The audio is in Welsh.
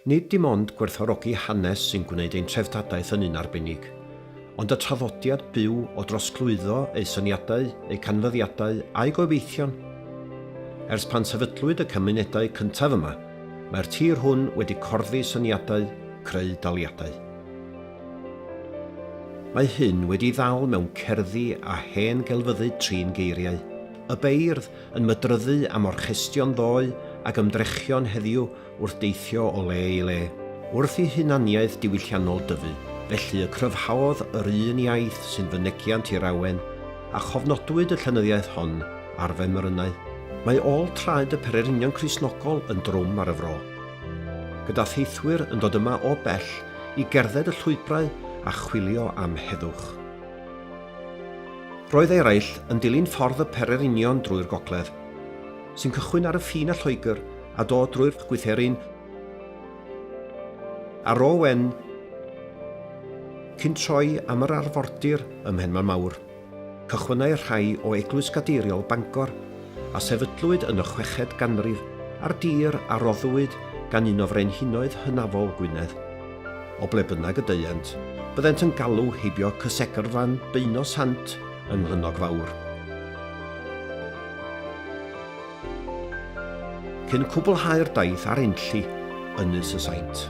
Nid dim ond gwerthfawrogi hanes sy'n gwneud ein treftadaeth yn un arbennig, ond y traddodiad byw o drosglwyddo ei syniadau, ei canfyddiadau a'i gobeithion. Ers pan sefydlwyd y cymunedau cyntaf yma, mae'r tir hwn wedi corddi syniadau, creu daliadau. Mae hyn wedi'i ddal mewn cerddi a hen gelfyddyd trin geiriau, y beirdd, yn mydryddu am orchestion ddoe ag ymdrechion heddiw wrth deithio o le i le, wrth i hunaniaeth diwylliannol dyfu, felly y cryfhaodd yr un iaith sy'n fynegiant i'r awen, a chofnodwyd y llenyddiaeth hon ar femrynau. Mae ôl traed y pererinion Cristnogol yn drwm ar y fro. Gyda theithwyr yn dod yma o bell i gerdded y llwybrau a chwilio am heddwch. Roedd eraill yn dilyn ffordd y Pererinion drwy'r gogledd, sy'n cychwyn ar y ffin â Lloegr a dod drwy'r Gwytherin a Ro Wen cyn troi am yr arfordir ym Mhenmaen Mawr. Cychwynnai rhai o Eglwys Gadeiriol Bangor, a sefydlwyd yn y chweched ganrif, ar dir a roddwyd gan un o frenhinoedd hynafol Gwynedd. O ble bynnag y deuent, byddent yn galw heibio cysegrfan Beuno Sant yng Nghlynnog Fawr. Cyn cwblhau'r daith ar Enlli, Ynys y Saint.